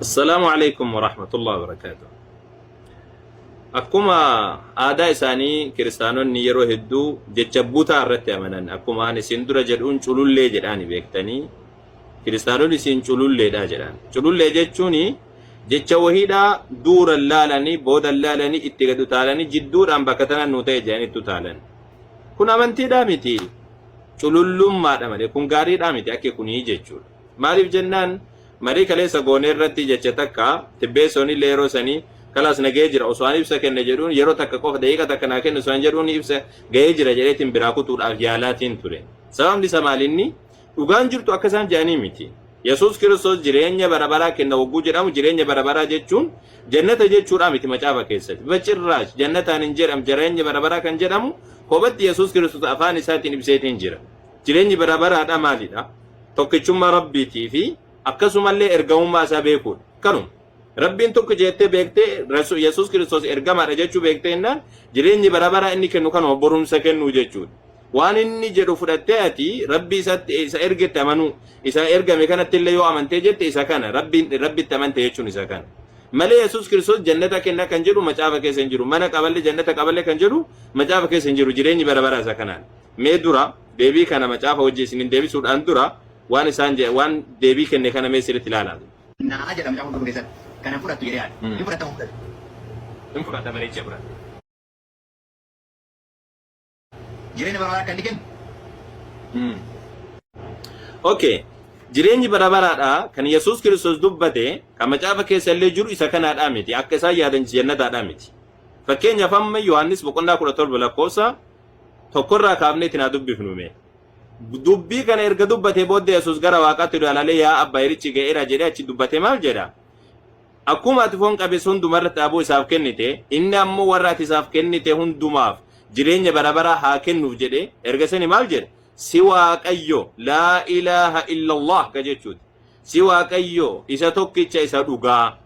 Assalaamu alaikum wa rahmatullahi wa barakaatu. Akkuma aadaa isaanii kiristaanonni yeroo hedduu jecha butaa irratti amanan akkuma ani isin dura jedhuun culullee jedhaani beektanii kiristaanonni isin cululleedha jedhan. Culullee jechuun jecha wahiidhaa duura laalanii booda laalanii itti gad utaalanii jidduudhaan bakka tana nu ta'e jedhanii itti utaalan. Kun amantiidhaa miti. Culullummaadha malee kun gaariidhaa miti akka kunii jechuudha. Maaliif jennaan marii kaleessa goone irratti jecha takka Tibbeessoon illee yeroo sanii kalaas na gahee jira osoo an ibsa kenne jedhuun yeroo takka qofa daqiiqa takka naa kenni osoo an jedhuun ibsa gahee jira jedheetiin biraa kutuudhaaf yaalaatiin ture. Sababni isa maal inni dhugaan jirtu akka isaan jedhanii miti. Yesuus Kiristoos jireenya bara baraa kenna hogguu jedhamu jireenya bara baraa jechuun jannata jechuudhaa miti macaafa keessatti. Bacirraash jannataan hin jedhamu jireenya bara baraa kan jedhamu kophatti Yesuus Kiristoos afaan isaatiin ibseetiin jira. Jireenyi bara baraadhaa maalidha? Tokkichummaa Rabbiitii fi akkasumallee ergamummaa isaa beekuudha. Kanuma. Rabbiin tokko jeettee beektee Rasu- Yesuus Kiristoos ergamaadha jechuu beektee innaan jireenyi bara baraa inni kennu kanuma borumsa kennuu jechuudha. Waan inni jedhu fudhattee ati Rabbii isatti isa ergetti amanuu isa ergame kanatti illee yoo amantee jette isa kana Rabbiin Rabbitti amante jechuun isa kana. Malee Yesuus Kiristoos jannata kenna kan jedhu macaafa keessa hin jiru. Mana qaballe jannata qaballe kan jedhu macaafa keessa hin jiru. Jireenyi bara baraa isa kanaan. Mee dura deebii kana macaafa wajjin isiniin deebisuudhaan dura waan isaan jedhe, waan deebii kenne kana mee sirriitti ilaalaa. Na'aa jedha Macaafa Qulqulluu keessatti. Kana hin fudhattu jedhee yaada. Hin fudhatta moo hin fudhattu? Hin fudhadha bareechee fudhadha. Jireenya bara baraa akka inni kennu. Ok. Jireenyi bara baraadha kan Yesuus Kiristoos dubbate kan macaafa keessa illee jiru isa kanaadhaa miti. Akka isaan yaadan jannataadhaa miti. Fakkeenyaaf amma Yohaannis boqonnaa 17 lakkoofsa tokkorraa kaafnee itti naa dubbifnu mee. Dubbii kana erga dubbatee booddee Yesuus gara waaqaatti ilaalalee yaa abba yerichi ga'eera jedhee achi dubbate maal jedha? Akkuma ati foon qabeessa hundumarratti dhaabuu isaaf kennite, inni ammoo warra ati isaaf kennite hundumaaf jireenya bara baraa haa kennuuf jedhe erga sani maal jedha? Si waaqayyo laa ilaaha illallah ka jechuuti. Si waaqayyo isa tokkicha isa dhugaa.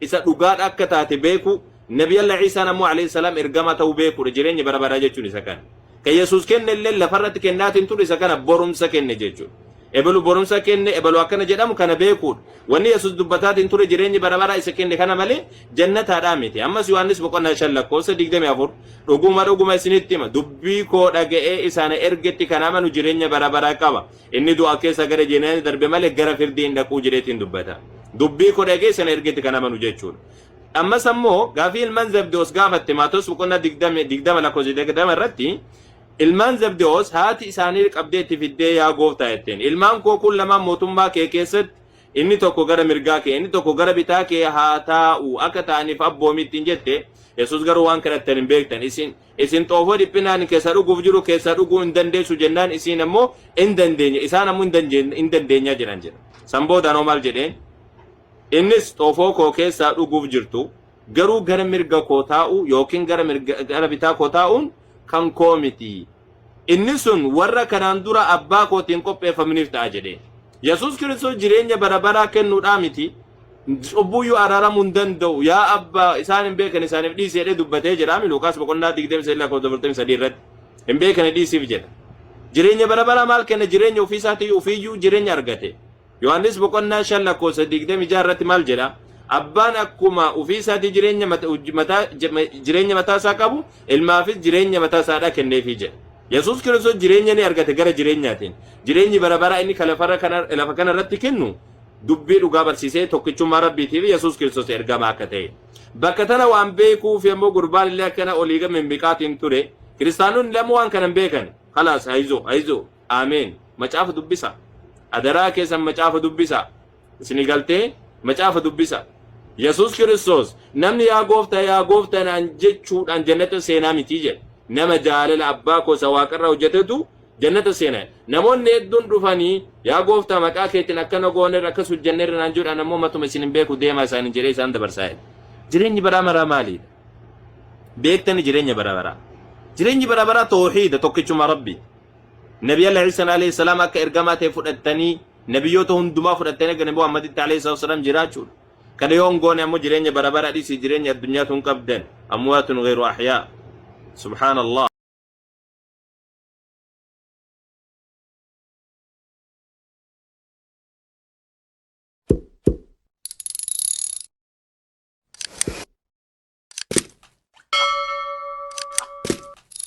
isa dhugaadha akka taate beekuu, Nabiyallah Iisaan ammoo Aleyhi Salaam ergamaa ta'uu beekuudha, jireenyi bara baraa jechuun isa kana. Kan Yesuus kenne illee lafarratti kennaatii hin turre isa kana borumsa kenne jechuudha. Ebalu borumsa kenne, ebalu akkana jedhamu kana beekuudha. Wanni Yesuus dubbataatii hin turre jireenyi bara baraa isa kenne kana malee jannataadhaa miti. Ammas Yohaannis boqonnaa shan lakkoofsa digdamii afur dhuguma dhuguma isinitti hima dubbii koo dhaga'ee isa na ergetti kan amanu jireenya bara baraa qaba. Inni du'a keessa gara jireenyaatti darbe malee gara firdii hin dhaquu jedheetiin dubbata. Dubbii koo dhagee sana ergetti kan amanu jechuudha. Ammas ammoo gaafii ilmaan Zabdewoos gaafatte Maatoos boqonnaa 20 20 lakkoofsa 20 irratti ilmaan Zabdewoos haati isaanii qabdee itti fiddee yaa gooftaa jetteen ilmaan koo kun lamaan mootummaa kee keessatti inni tokko gara mirgaa kee inni tokko gara bitaa kee haa taa'u akka ta'aniif abboomi ittiin jette Yesuus garuu waan kadhattan hin beektan isin Isin xoofoo dhiphinaan kessa dhuguuf jiru keessaa dhuguu hin dandeessu jennaan isiin ammoo in dandeenya isaan ammoo in dandeenya jedhan jedha. San booda anoo maal jedheen? Innis xoofoo koo keessaa dhuguuf jirtu garuu gara mirga koo taa'uu yookiin gara bitaa koo taa'uun kan koo miti. Inni sun warra kanaan dura Abbaa kootiin qopheeffamniif ta'a jedhe. Yesuus Kiristoos jireenya bara baraa kennuudhaa miti, cubbuu iyyuu araaramuu hin danda'u, yaa Abbaa, isaan hin beekan isaaniif dhiisi jedhee dubbatee jedhaami Luuqaas boqonnaa 23 lakkoofsa 43 irratti. Hin beekani dhiisiif jedha. Jireenya bara baraa maal kenna jireenya ofii isaatii ofii iyyuu jireenya argate. Yohaannis boqonnaa 5 lakkoofsa 26 irratti maal jedha? Abbaan akkuma ofii isaatii jireenya mata- hojii mataa jama- jireenya mataa isaa qabu ilmaafis jireenya mataa isaadhaa kenneefii jedha. Yesuus Kiristoos jireenya ni argate gara jireenyaatiin. Jireenyi bara baraa inni kan lafarra kana- lafa kana irratti kennu dubbii dhugaa barsiisee tokkichummaa Rabbiitii fi Yesuus Kiristoos ergamaa akka ta'e. Bakka tana waan beekuuf immoo gurbaan illee akkana olii gama mimmiqaatiin ture. Kiristaanonni lama waan kana hin beekan. Kalaas hayizoo hayizoo Ameen macaafa dubbisa adaraa keessan macaafa dubbisa isini galtee macaafa dubbisa Yesus Kiristoos namni yaa gooftaa yaa gooftaa naan jechuudhaan jannata seenaa mitii jedhe nama jaalala abbaa koo isa waaqarraa hojjetetu jannata seena namoonni hedduun dhufanii yaa gooftaa maqaa keetiin akkana goonerra akkas hojjennerra naan jedhaan ammoo matuma isin hin beeku deemaa isaaniin jedhee isaan dabarsaa jedhe jireenyi baraa maraa maaliidha beektani jireenya bara baraa jireenyi bara baraa toohiida tokkichuma rabbii Nabiyallah Iisan alayhi salaam akka ergamaa ta'e fudhattanii nabiyyoota hundumaa fudhattanii akka Nabi Muhammaditti alayhi salaatu wasalaam jiraachuudha. Kana yoo hin goone ammoo jireenya bara bara dhiisii jireenya addunyaa tun qabdan amwaatun ghayru ahyaa. Subhaanallah.